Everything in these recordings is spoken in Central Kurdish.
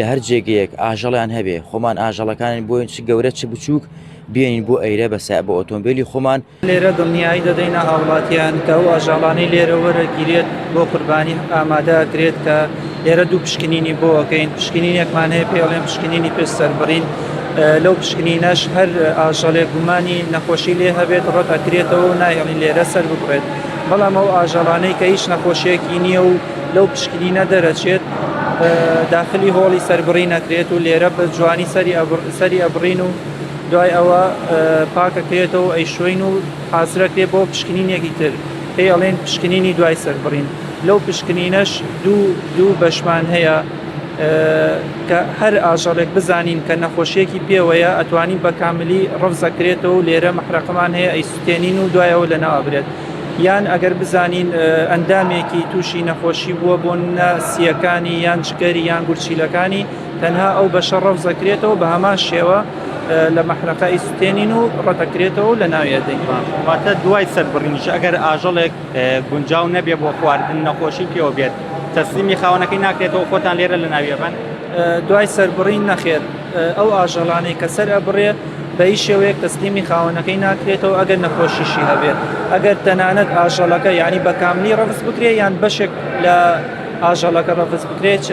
لە هەر جێگەیەک ئاژەڵیان هەبێ خۆمان ئاژەڵەکانین بۆین چ گەورە چ بچووک بێنین بۆ ئەیرە بە سای بۆ ئۆتۆمبیلی خۆمان لێرە دڵنیایی دەدەینە هاوڵاتیان کە ئەو ئاژاڵانەی لێرە وەرەگیرێت بۆ قوربانی ئامادەکرێت کە لێرە دوو پشکنینی بۆەکەین پشکنینێکمان هەیە پێڵێن پشکنینی پێ سەربڕین لەو پشکنینەش هەر ئاژەڵێ گومانی نەخۆشی لێ هەبێت ڕەت ئەکرێتەوە و نایەڵین لێرە سەر ببڕێت بەڵام ئەو ئاژەڵانەی کە هیچ نەخۆشیەکی نییە و لەو پشکنینە دەرەچێت داخلی هۆڵی سەربڕی نەکرێت و لێرە بە جوانی سەری ئەبڕین و دوای ئەوە پاکەکرێتەوە ئەی شوین و حازرەکرێ بۆ پشکنینێکی تر پێ ئەڵێن پشکنینی دوای سەربڕین لەو پشکنینەش دوو دوو بەشمان هەیە کە هەر ئاژەڵێک بزانین کە نەخۆشیەکی پێوەیە ئەتوانین بە کاملی ڕفزەکرێتەوە و لێرە مەحرەقەمان هەیە ئەی سوتێنین و دوایەوە لە ناوابرێت یان ئەگەر بزانین ئەندامێکی تووشی نەخۆشی بووە بۆ نە سیەکانی یان جگەری یان گورچیلەکانی تەنها ئەو بەشە ڕەوزەکرێتەوە بە هەمان شێوە لە مەحرەقە ئیسوتێنین و ڕەتەکرێتەوە لە ناویە دەیمان واتە دوای سەربڕینیش ئەگەر ئاژەڵێک گونجاو نەبێ بۆ خواردن نەخۆشی پێوە بێت تەسلیمی خاوەنەکەی ناکرێتەوە خۆتان لێرە لە ناویەبەن دوای سەربڕین نەخێت ئەو ئاژەڵانەی کە سەر ئەبڕێ بە هیچ شێوەیەک تەسلیمی خاوەنەکەی ناکرێتەوە ئەگەر نەخۆشیشی هەبێت ئەگەر تەنانەت ئاژەڵەکە یانی بە کاملی ڕەفز بکرێ یان بەشێک لە ئاژەڵەکە ڕەفز بکرێت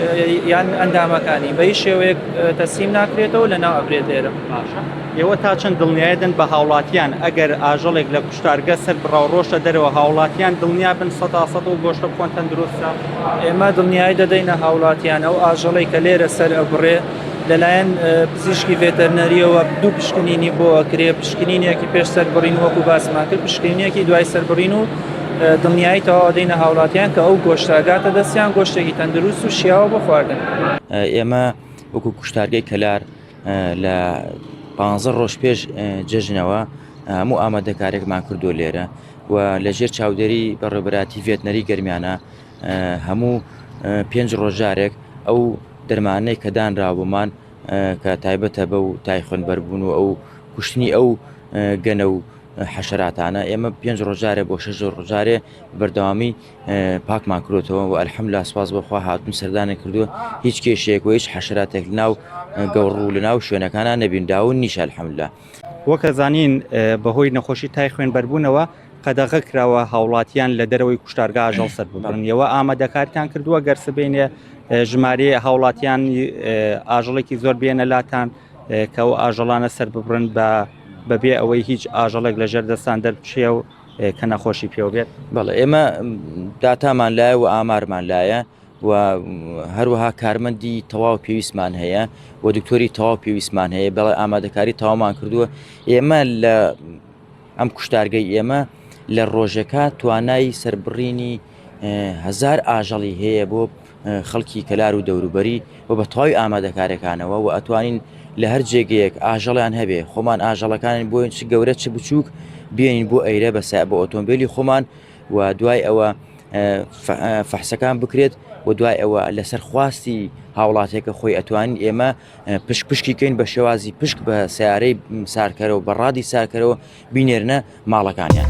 یان ئەندامەکانی بە هیچ شێوەیەک تەسلیم ناکرێتەوە لە ناو ئەبرێت لێرە باشە ئێوە تا چەند دڵنیایدن بە هاوڵاتیان ئەگەر ئاژەڵێک لە کوشتارگە سەر بڕاو ڕۆشتە دەرەوە هاوڵاتیان دڵنیا بن سە سە و گۆشتە بخۆن تەندروستە ئێمە دڵنیای دەدەینە هاوڵاتیان ئەو ئاژەڵی کە لێرە سەر ئەبڕێ لەلایەن پزیشکی ڤێتەرنەرییەوە دوو پشکنینی بۆ ئەکرێ پشکنینێکی پێش سەربڕین وەکو باسماکرد پشکنینێکی دوای سەربڕین و دڵنیایی تەواو دەینە هاوڵاتیان کە ئەو گۆشتاگاتە دەستیان گۆشتێکی تەندروست و شیاوە بۆ خواردن ئێمە وەکو کوشتارگەی کەلار لە پ ڕۆژ پێش جژنەوە هەموو ئامادەکارێکمان کردو لێرە و لەژێر چاودێری بەڕێبراتی ڤێتنەری گەرمیانە هەموو پێنج ڕۆژ جارێک ئەو دەرمانەی کە دانراوەمان کە تایبەتە بە و تای خوێنبەربوون و ئەو کوشتنی ئەو گەنە و حەشراتانە ئێمە پێنج ڕۆژارێ بۆ شەش ڕۆژارێ بەردەوامی پاکمان کرۆتەوە و ئەلحەم لا سپاس بۆخوا هاتون سەردانە کردووە هیچ کێشێک و هیچ حەشراتێک ناو گەوڕوو لە ناو شوێنەکانە نەبینداون نیشە الحەملا وەکە زانین بەهۆی نەخۆشی تای خوێن بەربوونەوە قەدەغە کراوە هاوڵاتیان لە دەرەوەی کوشتارگا ئاژەڵ سەر ببڕن یەوە ئامادەکارتان کردووە گەر سبینێ ژمارەیە هاوڵاتیان ئاژەڵێکی زۆر بێنە لاتان کە ئەو ئاژەڵانە سەر ببڕن بە بەبێ ئەوەی هیچ ئاژەڵێک لە ژێر دەستان دەربچێ و کە نەخۆشی پێوە بێت بەڵ ئێمە داتامان لایە و ئامارمان لایە و هەروەها کارمەندی تەواو پێویستمان هەیە و دکتۆری تەواو پێویستمان هەیە بەڵێ ئامادەکاری تاوامان کردووە ئێمە لە ئەم کوشتارگەی ئێمە لە ڕۆژەکە توانای سەربڕینی هزار ئاژەڵی هەیە بۆ خەڵکی کەلار و دەوروبەری و بە تەواوی ئامادەکارەکانەوە و ئەتوانین لە هەر جێگەیەک ئاژەڵیان هەبێ خۆمان ئاژەڵەکانن بۆین چ گەورە چ بچووک بێنین بۆ ئەیرە بە سا بۆ ئۆتۆمبیلی خۆمان و دوای ئەوە فەحسەکان بکرێت و دوای ئەوە لەسەر خواستی هاوڵاتێکە خۆی ئەتوانین ئێمە پشک پشکی کەین بە شێوازی پشک بە سیارەی سارکەرەوە بە ڕادی ساکەرەوە بینێرنە ماڵەکانیان.